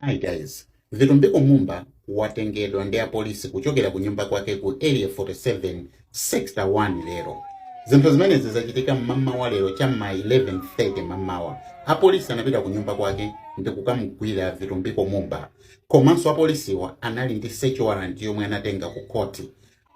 Hi guys, Vitumbiko Mumba watengedwa ndi apolisi kuchokera ku nyumba kwake ku Area 47 Sector 1 lero. Zinthu zimenezi zachitika mmamawa lero cha ma 11:30 mamawa. Apolisi anapita ku nyumba kwake ndi kukamugwira Vitumbiko Mumba. Komanso apolisiwa anali ndi search warrant yomwe anatenga ku khoti.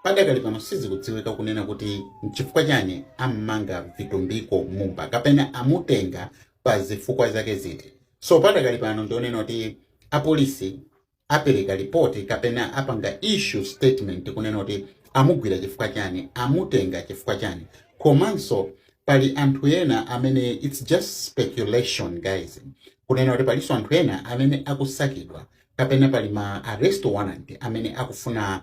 Padakali pano sizikudziwika kunena kuti nchifukwa chani ammanga Vitumbiko Mumba kapena amutenga pa zifukwa zake ziti. So padakali pano ndionena kuti apolisi apereka lipoti kapena apanga issue statement kunena kuti amugwira chifukwa chani amutenga chifukwa chani komanso pali anthu ena amene it's just speculation guys kunena kuti palinso anthu ena amene akusakidwa kapena pali ma arrest warrant amene akufuna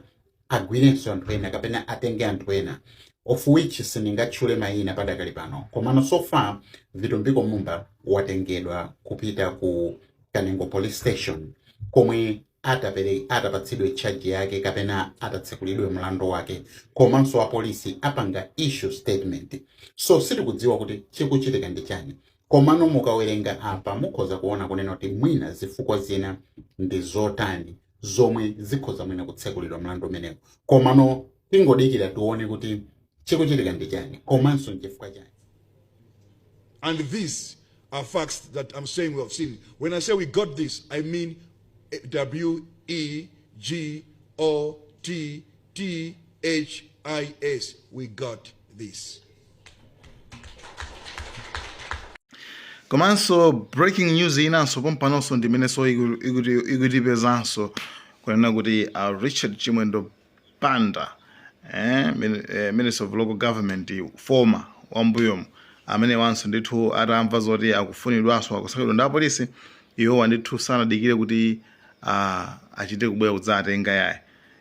agwirenso anthu ena kapena atenge anthu ena of which sindingatchule mayina padakali pano komano so far Vitumbiko Mumba watengedwa kupita ku Kanengo police station komwe atapere atapatsidwe charge yake kapena atatsekulidwe mlandu wake komanso apolisi apanga issue statement so sitikudziwa kuti chikuchitika ndi chani komano mukawerenga apa mukhoza kuona kunena kuti mwina zifukwa zina ndi zotani zomwe zikhoza mwina kutsekulidwa mlandu umenewo komano tingodikira tione kuti chikuchitika ndi chani komanso nchifukwa chani And these are facts that I'm saying we have seen. When I say we got this, I mean eh, W E G O T THIS, we got this. komanso breaking news inanso pompanonso ndimenenso iku- ikuti- ikutipezanso kunena kuti a richard chimwendo banda eh, min- eh, minister of local government former wambuyomu amene wanso ndithu atamva zoti akufunidwanso akusakidwa ndi apolisi iwowa ndithu sanadikire kuti ah, achite kubwera kudzatenga iyayi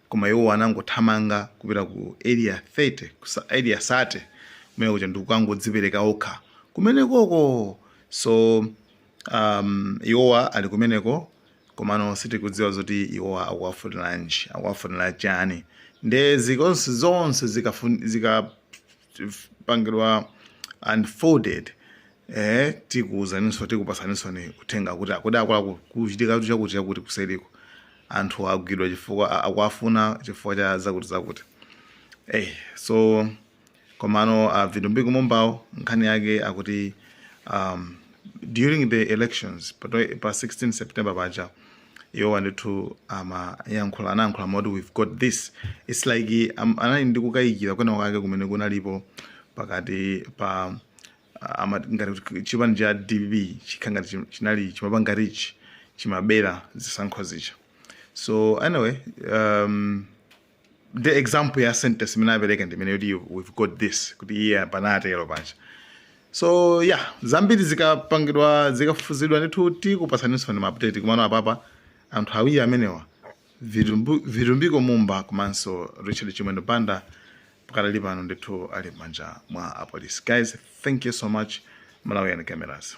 Koma iwowa anangothamanga kupita ku Area 30, ku sa, Area 30 kumene kuja ndikukangodzipereka okha kumenekoko. So um, iwowa ali kumeneko komano sitikudziwa zoti iwowa akuwafuniranji, akuwafunira chani. Nde zikonse zonse zikafun, zika pangidwa unfolded eh tikuuzaninso tikupatsaninso ni uthenga kuti akuti akulaku kuchitikatu chakuti chakuti kuseriko anthu agwidwa chifukwa a- akuwafuna chifukwa cha zakuti zakuti eh so komano uh, vitumbiko mumbawo nkhani yake akuti um, during the elections pa, twe- pa 16 september paja iwo ndithu amayankhula anayankhula moti we've got this its like um, anali ndi kukayikira kwina kwake kumene kunalipo pakati pa uh, ama- ngati kuti chipani cha dpp chikhala ngati chim- chinali chimapanga rig chimabera zisankho zicha so anyway um, ndi example ya sentence imene apereka ndi imeneyo ti we've got this kuti iye yeah, anatero paja so ya yeah, zambiri zikapangidwa zikafufuzidwa ndithu tikupasaninso ni maupdate komano apapa anthu awiri amenewa vitumbiko mumba komanso richard chimwendo banda pakadali pano ndithu ali m'manja mwa apolisi guys thank you so much malawi and cameras